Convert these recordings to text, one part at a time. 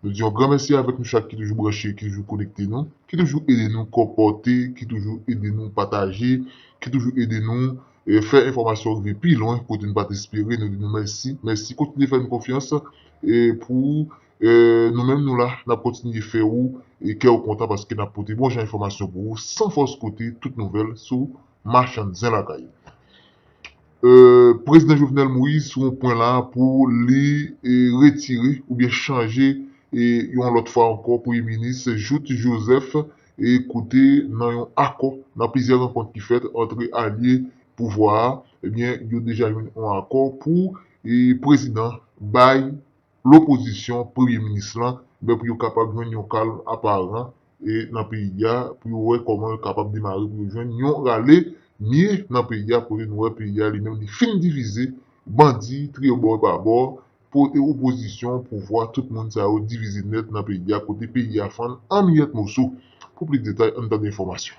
Nou di yon gran mèsi avèk nou chak ki toujou branche, ki toujou konekte nou, ki toujou ede nou konpòte, ki toujou ede nou pataje, ki toujou ede nou fè enfòmasyon rive pi lwen kote nou pa t espere. Nou di nou mèsi, mèsi. Kontinye fè nou konfyans pou nou menm nou la, n ap kontinye fè ou kè ou kontan paske n ap pote bon jan enfòmasyon pou ou san fòs kote, tout nouvèl sou machann zen lakay. Prezidan Jovenel Moise sou yon pwen la pou li retire oubyen chanje yon lòt fwa ankò premye minis Jouthe Joseph kote nan yon akò nan plizyè rankont ki fèt antre alye pouvwa a ebyen yo deja jwenn yon akò pou prezidan bay lopozisyon, premye minis lan, men pou yo kapab jwenn yon kalm aparan nan peyi a, pou yo wè kòman yo kapab demare pou yo jwenn yon rale mye nan peyi a, kote nou wè peyi a li menm li fin divize, bandi triyo bò e pa bò, opozisyon, pouvwa, tout moun sa yo divize nèt nan peyi a, kote peyi a fann an miyèt moso. Pou plis detay, ann tande enfòmasyon.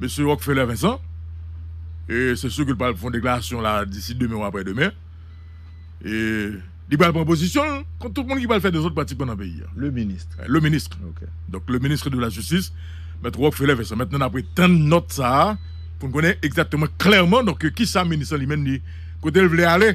Mesye Rockfeller Vincent, e se sur ke l pral fè yon deklarasyon la disi demen ou aprè demen, e li pral pran pozisyon l kont tout moun ki pral fè dezòd pratikman nan peyi a. Le Ministre. Le Ministre. Ok. Donk le Ministre de la Justice, Mèt Rockfeller Vincent. Mentnan n ap ret tann nòt sa a pou n konnen egzakteman klèman donk kisa Minis lan li menm li kote l vle ale.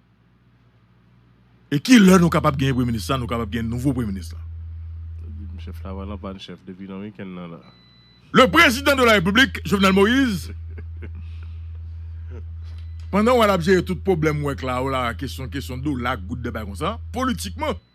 E ki lè nou kapab genyen premye minis sa nou kapab gen nouvo premye minis la. Chèf la valan pa n chèf depi nan wikenn nan la. Le prezidan de la repiblik Jovenel Moise pandan wè lap jere tout pwoblèm wè k la ou la kesyon kesyon dola goud de bay konsa politikman.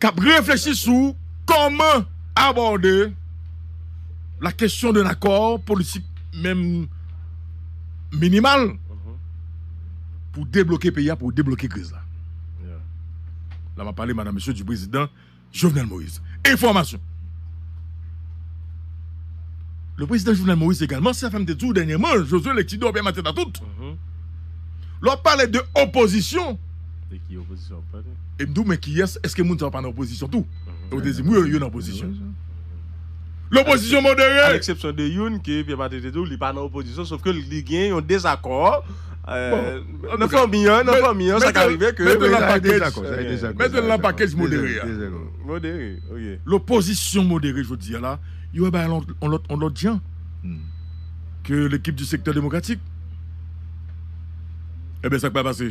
k ap reflechi sou kòman abòde la kesyon d'un accord politik menm minimal pou debloke peyi a, pou debloke kriz la. La m ap pale madan mesye du prezidan Jovenel Moïse. Enfòmasyon. Le prezidan Jovenel Moïse egalman, se sa m te di w dènyèman, Josue Lekti Dò Pè Matèt a tout. Lè w ap pale de opozisyon. De ki opozisyon w ap pale? E m di w men kiyès, èske moun sa yo pa nan opozisyon tou? E w te di m wi, yo nan opozisyon. Lopozisyon modere! A leksepsyon de youn ke Pierre Martelly te di w li pa nan opozisyon sof ke li gen yon dezakò nan fanmi an, nan fanmi an sa ka rive ke. Mete l nan pakej, mete l nan pakej modere a. Modere, ok. Lopozisyon modere jodi a la, yo wè bagay la yon lòt jan ke lekip di sektè demokratik. Enben sa k pral pase?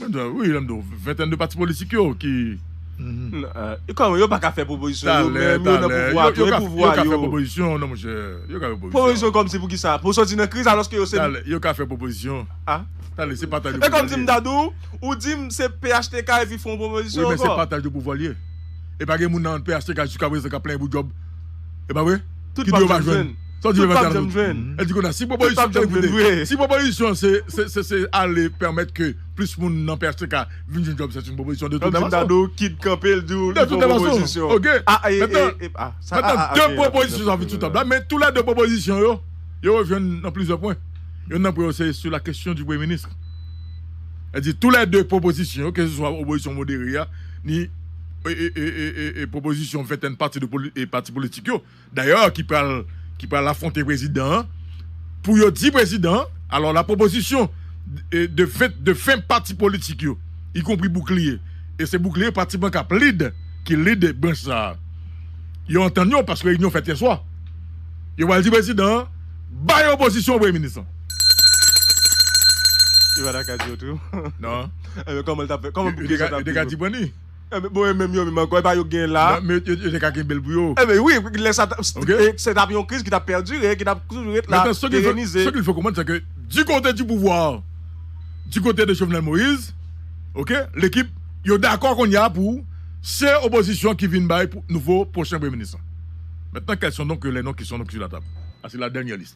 Wi, lèm do, ventèn de pati politik yo ki... Kòm yo pa ka fè pwopozisyon yo menm, yo nan pouvwa tou, e pouvwa yo... Yo ka fè pwopozisyon, non monchè, yo ka fè pwopozisyon. Pwopozisyon kòm si pou ki sa? Pou soti nan kriz alòske yo se... Talè, yo ka fè pwopozisyon. A? Talè, se pataj de pouvwa li ye. E kòm si m ta di w, ou di m se phtk epi fè yon pwopozisyon ankò. Wi, men se pataj de pouvwa li ye. E pa gen moun nan phtk jiska prezan k ap plenyen pou djòb. E pa vre? Tout pap jwenn. Tout pap janm jwenn. Tout pap janm jwenn vre. Si pwopozisyon se ale pèmèt ke plis moun nan phtk vin jwenn djòb se yon pwopozisyon de tout fason. Kòmsi Dadou kit kanpe l di w li pou opozisyon. Ok. Mètnan 2 pwopozisyon sa vin sou tab la men tou lè 2 pwopozisyon yo yo rejwenn nan plizyè pwen. Youn nan pwen yo se sou la kesyon di premye minis. Sèdi tou lè 2 pwopozisyon yo ke se swa opozisyon modere a ni pwopozisyon ventèn pati de pati politik yo dayè ki pral ki pral afwonte prezidan an pou yo di prezidan an alò la pwopozisyon de fen de fen pati politik yo ikonpri boukliye e se boukliye pratiman kap lid ki lid branch sa a yo antann yo paske reyinyon fèt yè swa yo pral di prezidan an bay opozisyon an premye minis lan. Yo pa ta ka di otremn nan. Yo te ka di pran ni. Enben, bon e menm yo menm ankò, e pa yo k genyen la a? Nan, men yo te ka kenbe l pou yo. Enben, wi, lè sa t ap, se t ap yon kriz ki t ap pèdire, ki t ap toujou ret la, perenize. Maintenant, ce qu'il faut comprendre, c'est que du côté du pouvoir, du côté de Jovenel Moïse, ok, l'équipe, yo dakò kounye a pou se opozisyon ki vin bay nouvo pwochen premye minis lan. Maintenant, quels sont donc les noms qui sont donc sur la table? Sa se la dernière liste.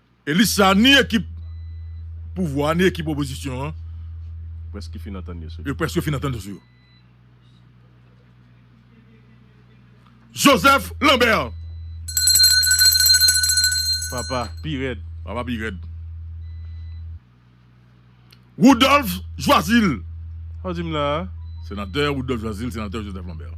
E lis sa ni ekip pouvwa ni ekip opozisyon an yo preske fin antann yo sou yo. Joseph Lambert! Papa pi rèd! Papa pi rèd! Rudolph Joazil! Sa w di m la a? Senatè Rudolph Joazil, Senatè Joseph Lambert.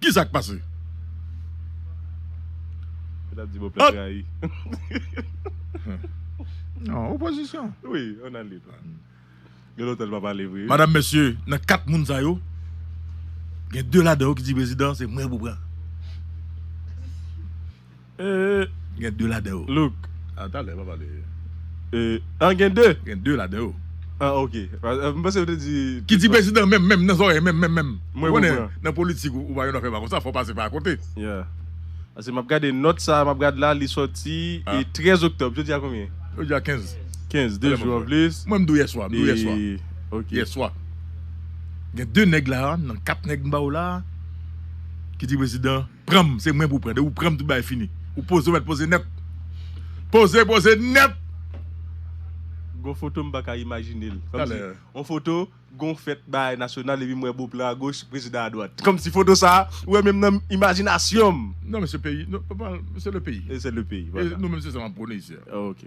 Ki sa k pase? Madam, mesye, nan kat moun sa yo, gen de ladan yo ki di prezidan se mwen pou pran. Gen 2 ladan yo. Look. A talè pa pale. An gen 2? Gen 2 ladan yo. An ok. M panse ou te di. Ki di prezidan menm menm nan zòrèy menm menm menm. Mwen konprann. Nan politik ou pa yon afè pa konsa fò pase pa akote. Yeah. Pase m ap gade nòt sa a m ap gad la li sòti 13 oktòb. Jodi a konbyen? Jodi a 15. 15. 2 jou anplis. Mwen m di w yèswa. M di w yèswa. Ok. Yèswa. Gen 2 nèg la a nan 4 nèg m ba ou la a ki di prezidan. Pranm se mwen pou pran. De ou pranm tout bagay fini. Ou poze ou met poze net. Poze poze net. Gon foto m paka imajinel. Komsi yon foto gon fèt bagay nasyonal epi m wè Beauplan a goch prezidan a dwat. Komsi foto sa ou wè menm nan imajinasyon m. Non men se peyi. Se le peyi. Se le peyi. E nou menm se sa nap prone isi a. Ok.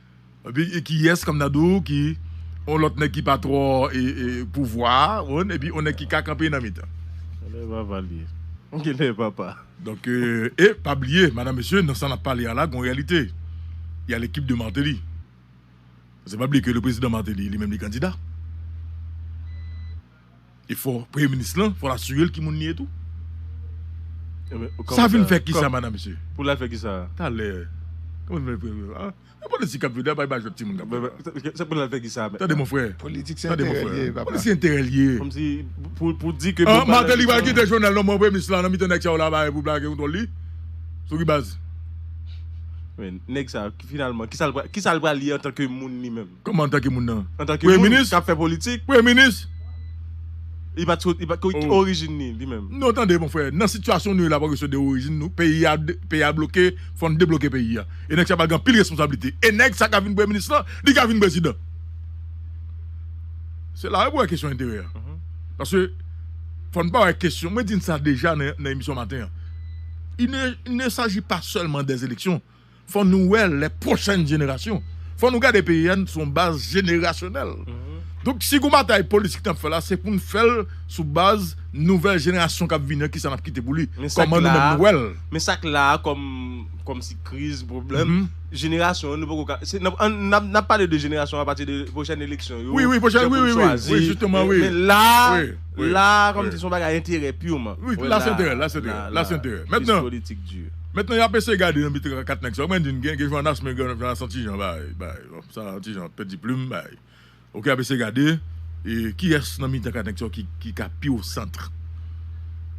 Epi kiyès kòm nan dou ki yon lòt nèg ki pa twò pouvwa oun epi yon nèg ki ka kanpe nan mitan. Genlè vava li ye. Genlè papa. Donk e pa bliye madam mesye nan sa nap pale a la gon reyalite y a lekip de Martelly pase pa bliye ke le prezidan Martelly li menm li kandida. E fò premye minis lan fòl asirel ki moun li ye tou. Sa vin fè kisa madam mesye. Pou lal fè kisa. Talè. Yon politisyen kap vini la bay bajot timoun kap vini la. Se pou lal fè kisa. Tande mon frè. Politik se enterè li ye papa. Politik se enterè li ye. Kòmsi pou di ke. An Martelly pral kite Jovenel non mwen premye minis la nan mitan nèg sa yo la pare pou lage kontwòl li. Sou ki baz. Nèg sa finalman kisal pral ye antanke moun li menm. Kòman antanke moun nan? Antanke moun k ap fè politik? Premye minis? Li pa t Ki orijin li li menm? Non tande mon frè, nan sitiyasyon nou ye la pa kesyon de orijin nou, peyi a peyi a bloke, fò n debloke peyi a. E nèg sa pral gen anpil responsablite. E nèg sa k ap vin premye minis lan, li ka vin prezidan. Se la pou wè kesyon enterè a. Paske fò n pa wè kesyon, mwen di n sa deja nan emisyon maten an, il ne il ne saji pa sèlman dè eleksyon. Fò nou wè lè pwochèn jenerasyon. Fò nou gade peyi a sou yon baz jenerasyonèl. Donk si gon batay politik nap fè la se pou nou fèl sou baz nouvèl jenerasyon kap vini an kisa nap kite pou li, kòman nou menm nou wèl. Men sak la a kòm kòm si kriz, pwoblèm, jenerasyon an nou poko ka se nap nap pale de jenerasyon apati de pwochèn eleksyon yo, jan pou nou chwazi, men la a la a kòm si son bagay enterè pirman. Wi la se enterè, la se enterè, la se enterè. Mètnan. Kriz politik di. Mèt nan yap eseye gade nan bi 3 4 nèg sa ou mèt di gen Johannas men Johannas an tijan bay bay bon sa an tijan pèdi plum bay ok yap eseye gade e kiyès nan mitan 4 nèg sa ki ka pi o centre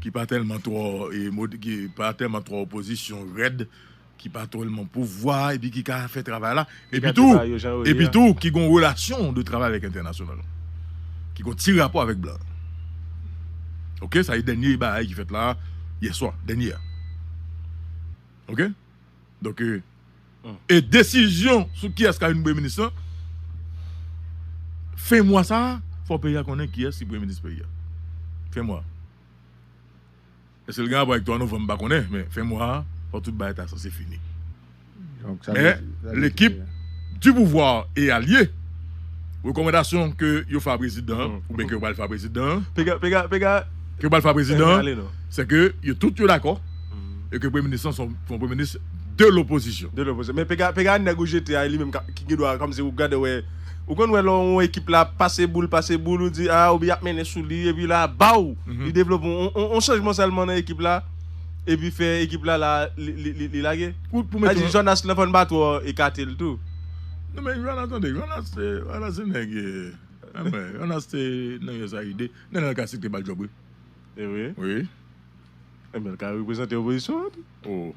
ki pa tèlman twò e mod ki pa tèlman twò opozisyon rèd ki pa twòlman pouvwa epi ki ka fè travay la Epitou, epitou ki gon relasyon de travay avèk entènasyonal. Ki gon ti rapò avèk blan. Ok, sa e dènye bagay ki fèt la yè swa, dènye a. Ok? Donk e, e desizyon sou kiyès ka vin premye minis lan, fen mwa sa a, fò peyi a konnen kiyès ki premye minis peyi a. Fen mwa. Eske l gen rapò ak 3 novanm m pa konnen men fen mwa a fò tout bagay ta sanse fini. Men lekip di pouvwa e alye rekòmandasyon ke yo fè a prezidan an ou byen ke yo pral fè a prezidan an ke yo pral fè a prezidan an se ke yo tout yo dakò e ke premye minis lan se yon premye minis de lopozisyon. Men pega nèg ou jete a e li menm ki gen dwa kòm si ou gade wè. Ou konn wè lè yon ekip la ap pase boul, pase boul, ou di aa oubyen y ap mennen sou li, epi la baw! Li devlope yon chanjman sèlman nan ekip la, epi fè ekip la la li lage. Kout pou mete yon. Sa di Jonas lan fò n pa twò ekate l tou. Non men Jonas tande, Jonas Jonas se nèg anmwey, Jonas se nèg usaid, Nenel Cassy te ba l djòb wi. Evre? Wi. Nenel ka reprezante opozisyon an tou. Oh.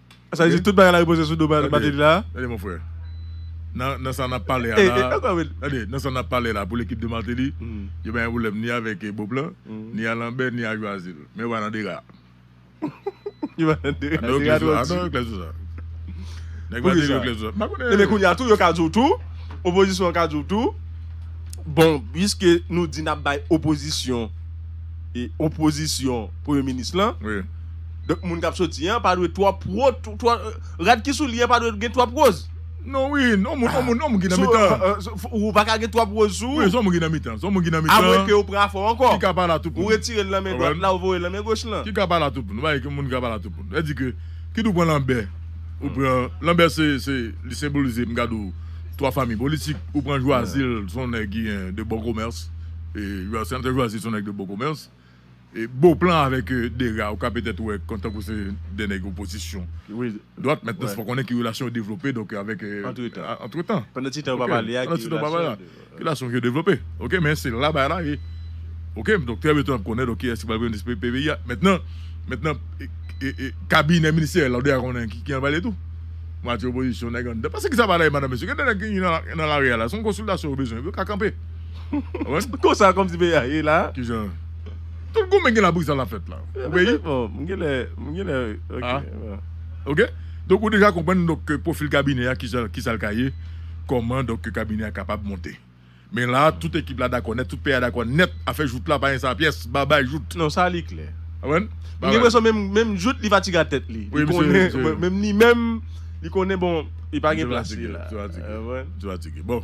Sa vle di tout bagay la repoze sou do Mateli la? Tande mon frè, nan sa nap pale a la, tande, nan sa nap pale la pou lekip de Mateli, yo pa gen pwoblèm ni avèk Boplan, ni a Lanbè, ni a Jwazil. Men yo pa nan dega. Yo pa nan dega, dega twò di. A non, yo klè sou sa. Nèg Mateli yo klè sou sa. Mpa konnen. Ebyen kounya tou yo ka di w tou, opozisyon an ka di w tou, bon, piske nou di nap bay opozisyon, opozisyon premye minis lan. Wi. Donk moun kap soti an pa dwe twòp wo rad ki sou li an pa dwe gen twòp woz. Non wi non moun on moun on moun ki nan mitan an. Ou pa ka gen twòp woz sou ou. Wi son moun ki nan mitan son moun ki nan mitan. Amwen ke ou pran afè w ankò. Ki ka pa la tou pou nou. Ou retire l nan men dwat la ou voye l nan men goch lan. Ki ka pa la tou pou nou. Nou pa gen moun ki ka pa la tou pou nou. Lè di ke kit ou pran lanbè ou pran lanbè se se li senbolize m gad ou twa fanmi politik ou pran jwazil son nèg ki gen de bon komès e jwazil se yon nèg de bon komès. Beauplan avèk Dega ou ka petèt wè kòm tankou se 2 nèg opozisyon dwat men fò konnen ki relasyon yo devlope donk avèk antretan pandan ti tan yo pa pale a ki relasyon yo devlope ok men se la bagay la ye ok donk trè byentou n ap konnen donk kiyès ki pral premye minis peyi a mentnan mentnan kabinè ministeryèl la ou deja konnen ki jan l pale tou mwatye opozisyon nèg anndan paske ki sa pa la ye madan mesye gen de nèg ki nan lari a la se yon konsiltasyon yo bezwen yo ka kanpe. Mwen konsa kòmsi peyi a ye la. Kijan? Tout goumen gen la bri sa la fèt la. Ou peyi? Bon, mwen gen lè, mwen gen lè ok. Ok. Donk ou deja konprann donk ke pwofil kabinè a kijan kisa l ka ye, kòman donk ke kabinè a kapab monte. Men la tout ekip la dakò nèt, tout peyi a dakò nèt, afè jout la pa gen sa pyès, babay jout. Non sa li klè. Konprann? Mwen gen enpresyon menm menm jout li fatige a tèt li. Li konnen menm li menm li konnen bon li pa gen plas li la. Li fatige. Li fatige. Bon.